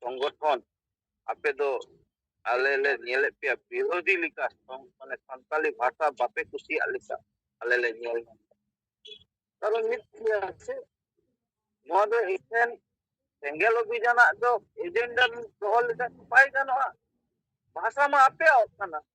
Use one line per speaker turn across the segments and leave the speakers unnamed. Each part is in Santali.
ᱥᱚᱝᱜᱚᱴᱷᱚᱱ ᱟᱯᱮ ᱫᱚ ᱟᱞᱮ ᱞᱮ ᱧᱮᱞᱮᱫ ᱯᱮᱭᱟ ᱵᱤᱨᱳᱫᱷᱤ ᱞᱮᱠᱟ ᱢᱟᱱᱮ ᱥᱟᱱᱛᱟᱞᱤ ᱵᱷᱟᱥᱟ ᱵᱟᱯᱮ ᱠᱩᱥᱤᱭᱟᱜ ᱞᱮᱠᱟ ᱟᱞᱮ ᱞᱮ ᱧᱮᱞ ᱠᱟᱨᱚᱱ ᱢᱤᱫ ᱜᱮᱭᱟ ᱥᱮ ᱱᱚᱣᱟ ᱫᱚ ᱮᱠᱷᱮᱱ ᱥᱮᱸᱜᱮᱞ ᱚᱵᱷᱤᱡᱟᱱᱟᱜ ᱫᱚ ᱮᱡᱮᱱᱰᱟ ᱫᱚᱦᱚ ᱞᱮᱠᱷᱟᱱ ᱵᱟᱭ ᱜᱟᱱᱚᱜᱼᱟ ᱵᱷᱟᱥᱟ ᱢᱟ ᱟᱯᱮᱭᱟᱜ ᱠᱟᱱᱟ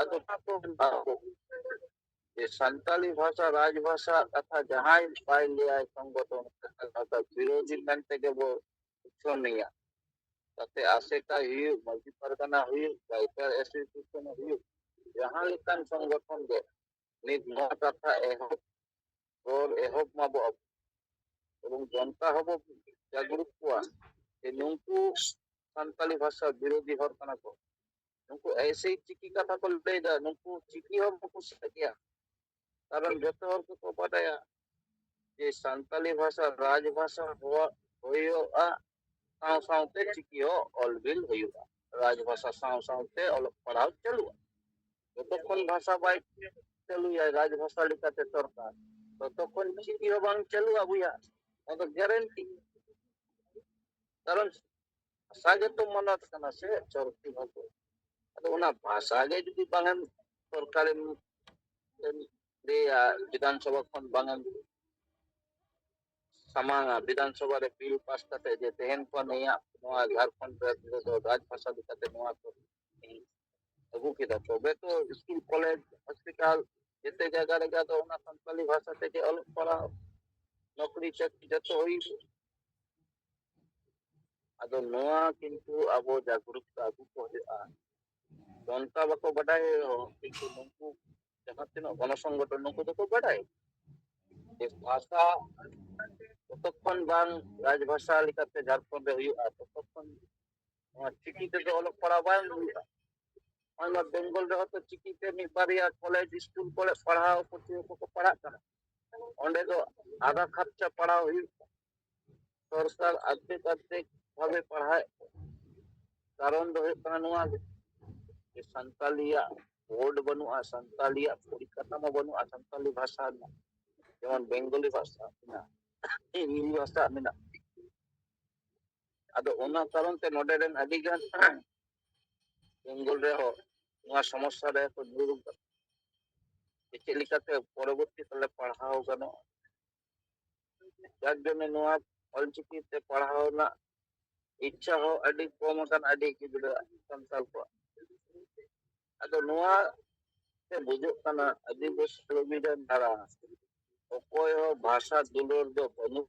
ᱟᱫᱚ ᱡᱮ ᱥᱟᱱᱛᱟᱲᱤ ᱵᱷᱟᱥᱟ ᱨᱟᱡᱽ ᱵᱷᱟᱥᱟ ᱠᱟᱛᱷᱟ ᱡᱟᱦᱟᱸᱭ ᱵᱟᱭ ᱞᱟᱹᱭᱟᱭ ᱥᱚᱝᱜᱚᱛᱚ ᱠᱟᱛᱷᱟ ᱵᱤᱨᱳᱫᱷᱤ ᱢᱮᱱ ᱛᱮᱜᱮ ᱵᱚ ᱩᱪᱷᱟᱹᱱᱮᱭᱟ ᱛᱟᱛᱮ ᱟᱥᱮᱠᱟ ᱦᱩᱭᱩᱜ ᱢᱟᱹᱡᱷᱤ ᱯᱟᱨᱜᱟᱱᱟ ᱦᱩᱭᱩᱜ ᱜᱟᱭᱠᱟᱨ ᱮᱥᱳᱥᱤᱭᱮᱥᱚᱱ ᱦᱩᱭᱩᱜ ᱡᱟᱦᱟᱸ ᱞᱮᱠᱟᱱ ᱥᱚᱝᱜᱚᱴᱷᱚᱱ ᱜᱮ ᱱᱤᱛ ᱱᱚᱣᱟ ᱠᱟᱛᱷᱟ ᱮᱦᱚᱵ ᱨᱚᱲ ᱮᱦᱚᱵ ᱢᱟᱵᱚ ᱟᱵᱚ ᱮᱵᱚᱝ ᱡᱚᱱᱛᱟ ᱦᱚᱸᱵᱚ ᱡᱟᱜᱽᱨᱩᱛ ᱠᱚᱣᱟ ᱡᱮ ᱱᱩᱝᱠᱩ ᱥᱟᱱᱛᱟᱲᱤ ᱵᱷᱟᱥᱟ ᱵᱤᱨᱳᱫᱷᱤ ᱦᱚᱲ ᱠᱟᱱᱟ ᱠᱚ ᱱᱩᱠᱩ ᱮᱭᱥᱮ ᱪᱤᱠᱤ ᱠᱟᱛᱷᱟ ᱠᱚ ᱞᱟᱹᱭᱫᱟ ᱱᱩᱠᱩ ᱪᱤᱠᱤ ᱦᱚᱸ ᱵᱟᱠᱚ ᱥᱮᱫ ᱜᱮᱭᱟ ᱠᱟᱨᱚᱱ ᱡᱚᱛᱚ ᱦᱚᱲ ᱠᱚᱠᱚ ᱵᱟᱰᱟᱭᱟ ᱡᱮ ᱥᱟᱱᱛᱟᱞᱤ ᱵᱷᱟᱥᱟ ᱨᱟᱡᱽ ᱵᱷᱟᱥᱟ ᱦᱚᱣᱟ ᱦᱩᱭᱩᱜᱼᱟ ᱥᱟᱶ ᱥᱟᱶᱛᱮ ᱪᱤᱠᱤ ᱦᱚᱸ ᱚᱞᱵᱤᱞ ᱦᱩᱭᱩᱜᱼᱟ ᱨᱟᱡᱽ ᱵᱷᱟᱥᱟ ᱥᱟᱶ ᱥᱟᱶᱛᱮ ᱚᱞᱚᱜ ᱯᱟᱲᱦᱟᱣ ᱪᱟᱹᱞᱩᱜᱼᱟ ᱡᱚᱛᱚᱠᱷᱚᱱ ᱵᱷᱟᱥᱟ ᱵᱟᱭ ᱪᱟᱹᱞᱩᱭᱟ ᱨᱟᱡᱽ ᱵᱷᱟᱥᱟ ᱞᱮᱠᱟᱛᱮ ᱥᱚᱨᱠᱟᱨ ᱛᱚᱛᱚᱠᱷᱚᱱ ᱪᱤᱠᱤ ᱦᱚᱸ ᱵᱟᱝ ᱪᱟᱹᱞᱩᱜᱼᱟ ᱵᱚᱭᱦᱟ ᱚᱱᱟ ᱫᱚ ᱜᱮᱨᱮᱱᱴᱤ ᱠᱟᱨᱚᱱ ᱵᱷᱟᱥᱟ ᱜᱮᱛᱚ ᱢᱟᱱᱟᱛ ᱠᱟᱱᱟ ᱥᱮ ᱪᱚᱨᱠᱤ ᱵᱷᱟᱜᱚ ᱟᱫᱚ ᱚᱱᱟ ᱵᱷᱟᱥᱟ ᱜᱮ ᱡᱩᱫᱤ ᱵᱟᱝᱮᱢ ᱥᱚᱨᱠᱟᱨᱮᱢ ᱞᱟᱹᱭᱟ ᱵᱤᱫᱷᱟᱱ ᱥᱚᱵᱷᱟ ᱠᱷᱚᱱ ᱵᱟᱝᱮᱢ ᱥᱟᱢᱟᱝᱟ ᱵᱤᱫᱷᱟᱱ ᱥᱚᱵᱷᱟ ᱨᱮ ᱵᱤᱞ ᱯᱟᱥ ᱠᱟᱛᱮ ᱡᱮ ᱛᱮᱦᱮᱱ ᱠᱷᱚᱱ ᱱᱤᱭᱟᱹ ᱱᱚᱣᱟ ᱡᱷᱟᱲᱠᱷᱚᱸᱰ ᱨᱮᱫᱚ ᱨᱟᱡᱽ ᱵᱷᱟᱥᱟ ᱞᱮᱠᱟᱛᱮ ᱱᱚᱣᱟ ᱠᱚ ᱟᱹᱜᱩ ᱠᱮᱫᱟ ᱛᱚᱵᱮ ᱛᱚ ᱥᱠᱩᱞ ᱠᱚᱞᱮᱡᱽ ᱦᱚᱥᱯᱤᱴᱟᱞ ᱡᱮᱛᱮ ᱡᱟᱭᱜᱟ ᱨᱮᱜᱮ ᱟᱫᱚ ᱚᱱᱟ ᱥᱟᱱᱛᱟᱞᱤ ᱵᱷᱟᱥᱟ ᱛᱮᱜᱮ ᱚᱞᱚᱜ ᱯᱟᱲᱦᱟᱣ ᱱᱚᱠᱨᱤ ᱪᱟᱹᱠᱨᱤ ᱡᱚᱛᱚ ᱦᱩᱭᱩᱜᱼᱟ ᱟᱫᱚ ᱱᱚᱣᱟ ᱠᱤᱱᱛᱩ ᱟᱵᱚ ᱡᱟᱜᱽᱨᱩᱠᱛᱟ ᱟᱹᱜᱩ ᱠᱚ ᱦᱩᱭᱩᱜᱼᱟ ᱚᱱᱠᱟ ᱵᱟᱠᱚ ᱵᱟᱰᱟᱭ ᱨᱮᱦᱚᱸ ᱠᱤᱱᱛᱩ ᱱᱩᱠᱩ ᱡᱟᱦᱟᱸ ᱛᱤᱱᱟᱹᱜ ᱜᱚᱱᱚ ᱥᱚᱝᱜᱚᱴᱷᱚᱱ ᱱᱩᱠᱩ ᱫᱚᱠᱚ ᱵᱟᱰᱟᱭ ᱡᱮ ᱵᱷᱟᱥᱟ ᱡᱚᱛᱚᱠᱷᱚᱱ ᱵᱟᱝ ᱨᱟᱡᱽᱵᱷᱟᱥᱟ ᱞᱮᱠᱟᱛᱮ ᱡᱷᱟᱲᱠᱷᱚᱸᱰ ᱨᱮ ᱦᱩᱭᱩᱜᱼᱟ ᱛᱚᱛᱚᱠᱷᱚᱱ ᱱᱚᱣᱟ ᱪᱤᱠᱤ ᱛᱮᱫᱚ ᱚᱞᱚᱜ ᱯᱟᱲᱦᱟᱣ ᱵᱟᱝ ᱦᱩᱭᱩᱜᱼᱟ ᱱᱚᱣᱟ ᱵᱮᱝᱜᱚᱞ ᱨᱮᱦᱚᱸ ᱛᱚ ᱪᱤᱠᱤᱛᱮ ᱢᱤᱫ ᱵᱟᱨᱭᱟ ᱠᱚᱞᱮᱡᱽ ᱥᱠᱩᱞ ᱠᱚᱨᱮ ᱯᱟᱲᱦᱟᱣ ᱯᱟᱹᱴᱷᱩᱣᱟᱹ ᱠᱚᱠᱚ ᱯᱟᱲᱦᱟᱜ ᱠᱟᱱᱟ ᱚᱸᱰᱮ ᱫᱚ ᱟᱫᱷᱟ ᱠᱷᱚᱨᱪᱟ ᱯᱟᱲᱟᱣ ᱦᱩᱭᱩᱜ ᱥᱚᱨᱠᱟᱨ ᱟᱫᱷᱮᱠ ᱟᱫᱷᱮᱠ ᱵᱷᱟᱵᱮ ᱯᱟᱲᱦᱟᱣᱮᱫ ᱠᱚᱣᱟ ᱠᱟᱨᱚᱱ ᱫᱚ ᱦᱩᱭᱩᱜ ᱠᱟᱱᱟ ᱱᱚᱣᱟ ᱜᱮ ᱡᱮ ᱥᱟᱱᱛᱟᱞᱤᱭᱟᱜ ᱵᱳᱨᱰ ᱵᱟᱹᱱᱩᱜᱼᱟ ᱥᱟᱱᱛᱟᱞᱤᱭᱟᱜ ᱯᱚᱨᱤᱠᱟᱴᱷᱟᱢᱳ ᱵᱟᱹᱱᱩᱜᱼᱟ ᱥᱟᱱᱛᱟᱞᱤ ᱵᱷᱟᱥᱟ ᱨᱮᱱᱟᱜ ᱡᱮᱢᱚᱱ ᱵᱮᱝᱜᱚᱞᱤ ᱵᱷᱟᱥᱟ ᱢᱮᱱᱟᱜᱼᱟ ᱦᱤᱱᱫᱤ ᱵᱷᱟᱥᱟ ᱢᱮᱱᱟᱜᱼᱟ ᱟᱫᱚ ᱚᱱᱟ ᱠᱟᱨᱚᱱ ᱛᱮ ᱱᱚᱰᱮ ᱨᱮᱱ ᱟᱹᱰᱤ ᱜᱟᱱ ᱵᱮᱝᱜᱚᱞ ᱨᱮᱦᱚᱸ ᱱᱚᱣᱟ ᱥᱚᱢᱚᱥᱥᱟ ᱨᱮ ᱠᱚ ᱧᱩᱨ ᱟᱠᱟᱱᱟ ᱪᱮᱫ ᱞᱮᱠᱟᱛᱮ ᱯᱚᱨᱚᱵᱚᱨᱛᱤ ᱠᱟᱞᱨᱮ ᱯᱟᱲᱦᱟᱣ ᱜᱟᱱᱚᱜᱼᱟ ᱡᱟᱨ ᱡᱚᱱᱱᱮ ᱱᱚᱣᱟ ᱚᱞᱪᱤᱠᱤ ᱛᱮ ᱯᱟᱲᱦᱟᱣ ᱨᱮᱱᱟᱜ ᱤᱪᱪᱷᱟ ᱦᱚᱸ ᱟᱹᱰᱤ ᱠᱚᱢ ᱟᱠᱟᱱ ᱟᱹᱰᱤ ᱜᱤᱫᱽᱨᱟᱹ ᱥᱟᱱᱛᱟᱲ ᱠᱚᱣᱟᱜ ᱟᱫᱚ ᱱᱚᱣᱟ ᱛᱮ ᱵᱩᱡᱩᱜ ᱠᱟᱱᱟ ᱟᱹᱫᱤᱵᱟᱹᱥᱤ ᱠᱟᱹᱢᱤ ᱨᱮᱱ ᱫᱟᱨᱟ ᱚᱠᱚᱭ ᱦᱚᱸ ᱵᱷᱟᱥᱟ ᱫᱩᱞᱟᱹᱲ ᱫᱚ ᱵᱟᱹᱱᱩᱜ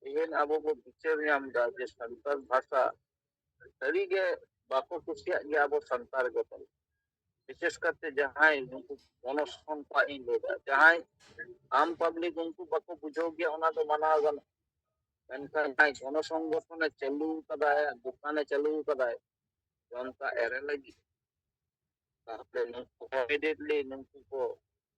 ᱛᱮᱦᱮᱧ ᱟᱵᱚ ᱵᱚ ᱵᱤᱪᱟᱹᱨ ᱧᱟᱢ ᱮᱫᱟ ᱡᱮ ᱥᱟᱱᱛᱟᱲ ᱵᱷᱟᱥᱟ ᱥᱟᱹᱨᱤᱜᱮ ᱵᱟᱠᱚ ᱠᱩᱥᱤᱭᱟᱜ ᱜᱮᱭᱟ ᱟᱵᱚ ᱥᱟᱱᱛᱟᱲ ᱜᱮ ᱛᱟᱵᱚᱱ ᱵᱤᱥᱮᱥ ᱠᱟᱛᱮ ᱡᱟᱦᱟᱸᱭ ᱱᱩᱠᱩ ᱢᱚᱱᱚᱥᱠᱚᱱ ᱠᱚᱣᱟᱜ ᱤᱧ ᱞᱟᱹᱭᱫᱟ ᱡᱟᱦᱟᱸᱭ ᱟᱢ ᱯᱟᱵᱽᱞᱤᱠ ᱩᱱᱠᱩ ᱵᱟᱠᱚ ᱵᱩᱡᱷᱟᱹᱣ ᱜᱮᱭᱟ ᱚᱱᱟ ᱫᱚ ᱢᱟᱱᱟᱣ ᱜᱟᱱᱚᱜ ᱢᱮᱱᱠᱷᱟᱱ ᱡᱟᱦᱟᱸᱭ ᱜᱚᱱᱚ ᱥᱚᱝᱜᱚᱴᱷᱚᱱᱮ ᱪᱟᱹᱞᱩ ᱠᱟᱫᱟᱭ ᱫᱚᱠᱟᱱᱮ ᱪᱟᱹᱞᱩ ᱠᱟᱫᱟᱭ ᱡᱚᱱᱛᱟ ᱮᱨᱮ ᱞᱟᱹᱜᱤᱫ ᱛᱟᱦᱚᱞᱮ ᱱᱩᱠᱩ ᱤᱢᱤᱰᱤᱭᱮᱴᱞᱤ ᱱᱩᱠᱩ ᱠᱚ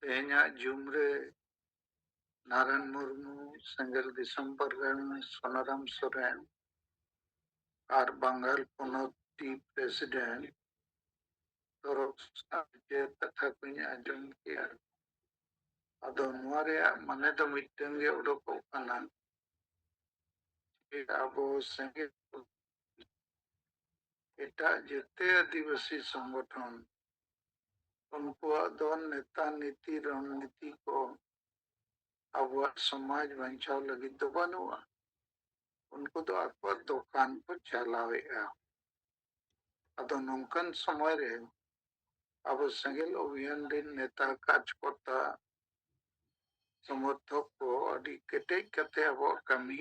ᱛᱮᱦᱮᱧᱟᱜ ᱡᱩᱢ ᱨᱮ ᱱᱟᱨᱟᱭᱚᱱ ᱢᱩᱨᱢᱩ ᱥᱮᱸᱜᱮᱞ ᱫᱤᱥᱚᱢ ᱯᱟᱨᱜᱟᱱ ᱥᱚᱱᱟᱨᱟᱢ ᱥᱚᱨᱮᱱ ᱟᱨ ᱵᱟᱝᱜᱟᱞ ᱯᱚᱱᱚᱛ ᱴᱤ ᱯᱨᱮᱥᱤᱰᱮᱱᱴ ᱛᱚᱨᱚᱯ ᱥᱟᱶᱛᱮ ᱠᱟᱛᱷᱟ ᱠᱚᱧ ᱟᱸᱡᱚᱢ ᱠᱮᱜᱼᱟ ᱟᱫᱚ ᱱᱚᱣᱟ ᱨᱮᱭᱟᱜ ᱢᱟᱱᱮ ᱫᱚ ᱢᱤᱫᱴᱟᱝ ᱜᱮ ᱩᱰᱩᱠᱚᱜ ᱠᱟᱱᱟ ᱟᱵᱚ ᱥᱮᱸᱜᱮᱞ ᱮᱴᱟᱜ ᱡᱮᱛᱮ ᱟᱹᱫᱤᱵᱟᱹᱥᱤ ᱥᱚᱝᱜᱚᱴᱷᱚᱱ ᱩᱱᱠᱩᱣᱟᱜ ᱫᱚ ᱱᱮᱛᱟ ᱱᱤᱛᱤ ᱨᱚᱱᱱᱤᱛᱤ ᱠᱚ ᱟᱵᱚᱣᱟᱜ ᱥᱚᱢᱟᱡᱽ ᱵᱟᱧᱪᱟᱣ ᱞᱟᱹᱜᱤᱫ ᱫᱚ ᱵᱟᱹᱱᱩᱜᱼᱟ ᱩᱱᱠᱩ ᱫᱚ ᱟᱠᱚᱣᱟᱜ ᱫᱚᱠᱟᱱ ᱠᱚ ᱪᱟᱞᱟᱣᱮᱫᱼᱟ ᱟᱫᱚ ᱱᱚᱝᱠᱟᱱ ᱥᱚᱢᱚᱭ ᱨᱮ ᱟᱵᱚ ᱥᱮᱸᱜᱮᱞ ᱚᱵᱷᱤᱭᱟᱱ ᱨᱮᱱ ᱱᱮᱛᱟ ᱠᱟᱨᱡᱽᱠᱚᱨᱛᱟ ᱥᱚᱢᱚᱨᱛᱷᱚᱠ ᱠᱚ ᱟᱹᱰᱤ ᱠᱮᱴᱮᱡ ᱠᱟᱛᱮ ᱟᱵᱚᱣᱟᱜ ᱠᱟᱹᱢᱤ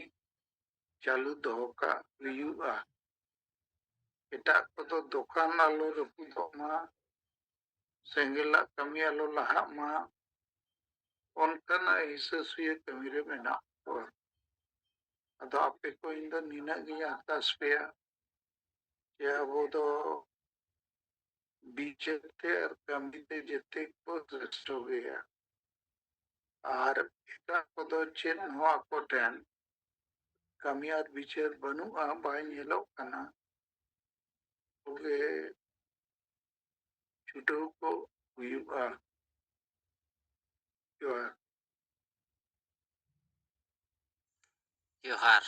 ᱪᱟᱹᱞᱩ ᱫᱚᱦᱚ ᱠᱟᱜ ᱦᱩᱭᱩᱜᱼᱟ ᱮᱴᱟᱜ ᱠᱚᱫᱚ ᱫᱚᱠᱟᱱ ᱟᱞᱚ ᱨᱟᱹᱯᱩᱫᱚᱜ ᱢᱟ ᱥᱮᱸᱜᱮᱞᱟᱜ ᱠᱟᱹᱢᱤ ᱟᱞᱚ ᱞᱟᱦᱟᱜ ᱢᱟ ᱚᱱᱠᱟᱱᱟᱜ ᱦᱤᱥᱟᱹ ᱥᱩᱭᱟᱹ ᱠᱟᱹᱢᱤ ᱨᱮ ᱢᱮᱱᱟᱜ ᱠᱚᱣᱟ ᱟᱫᱚ ᱟᱯᱮ ᱠᱚ ᱤᱧ ᱫᱚ ᱱᱤᱱᱟᱹᱜ ᱜᱤᱧ ᱟᱨᱫᱟᱥ ᱯᱮᱭᱟ ᱡᱮ ᱟᱵᱚ ᱫᱚ ᱵᱤᱪᱟᱹᱨ ᱛᱮ ᱟᱨ ᱠᱟᱹᱢᱤ ᱛᱮ ᱡᱮᱛᱮ ᱠᱚ ᱥᱨᱮᱥᱴᱷᱚ ᱜᱮᱭᱟ ᱟᱨ ᱮᱴᱟᱜ ᱠᱚᱫᱚ ᱪᱮᱫ ᱦᱚᱸ ᱟᱠᱚ ᱴᱷᱮᱱ ᱠᱟᱹᱢᱤ ᱟᱨ ᱵᱤᱪᱟᱹᱨ ᱵᱟᱹᱱᱩᱜᱼᱟ ᱵᱟᱭ ᱧᱮᱞᱚᱜ ᱠᱟᱱᱟ ᱛᱚᱵᱮ ᱪᱷᱩᱴᱟᱹᱣ ᱠᱚ ᱦᱩᱭᱩᱜᱼᱟ ᱡᱚᱦᱟᱨ
ᱡᱚᱦᱟᱨ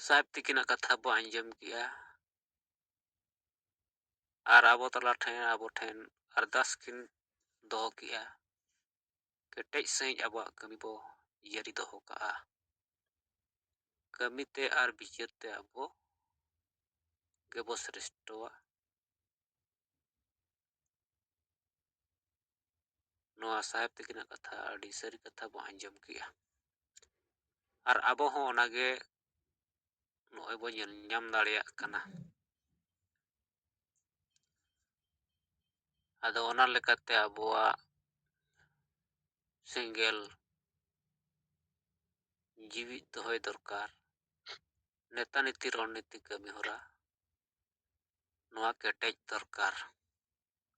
ᱥᱟᱦᱮᱵ ᱛᱤᱠᱤᱱᱟᱜ ᱠᱟᱛᱷᱟ ᱵᱚ ᱟᱸᱡᱚᱢ ᱠᱮᱜᱼᱟ ᱟᱨ ᱟᱵᱚ ᱛᱟᱞᱟ ᱴᱷᱮᱱ ᱟᱵᱚ ᱴᱷᱮᱱ ᱟᱨᱫᱟᱥ ᱠᱤᱱ ᱫᱚᱦᱚ ᱠᱮᱜᱼᱟ ᱠᱮᱴᱮᱡ ᱥᱟᱺᱦᱤᱡ ᱟᱵᱚᱣᱟᱜ ᱠᱟᱹᱢᱤ ᱵᱚ ᱡᱟᱹᱨᱤ ᱫᱚᱦᱚ ᱠᱟᱜᱼᱟ ᱠᱟᱹᱢᱤ ᱛᱮ ᱟᱨ ᱵᱤᱪᱟᱹᱨ ᱛᱮ ᱟᱵᱚ ᱜᱮᱵᱚ ᱥᱨᱮᱥᱴᱚᱣᱟ ᱱᱚᱣᱟ ᱥᱟᱦᱮᱵᱽ ᱛᱟᱹᱠᱤᱱᱟᱜ ᱠᱟᱛᱷᱟ ᱟᱹᱰᱤ ᱥᱟᱹᱨᱤ ᱠᱟᱛᱷᱟ ᱵᱚ ᱟᱸᱡᱚᱢ ᱠᱮᱜᱼᱟ ᱟᱨ ᱟᱵᱚ ᱦᱚᱸ ᱚᱱᱟᱜᱮ ᱱᱚᱜᱼᱚᱭ ᱵᱚ ᱧᱮᱞ ᱧᱟᱢ ᱫᱟᱲᱮᱭᱟᱜ ᱠᱟᱱᱟ ᱟᱫᱚ ᱚᱱᱟ ᱞᱮᱠᱟᱛᱮ ᱟᱵᱚᱣᱟᱜ ᱥᱮᱸᱜᱮᱞ ᱡᱤᱣᱤᱫ ᱫᱚᱦᱚᱭ ᱫᱚᱨᱠᱟᱨ ᱱᱮᱛᱟ ᱱᱤᱛᱤ ᱨᱚᱲ ᱱᱤᱛᱤ ᱠᱟᱹᱢᱤ ᱦᱚᱨᱟ ᱱᱚᱣᱟ ᱠᱮᱴᱮᱡ ᱫᱚᱨᱠᱟᱨ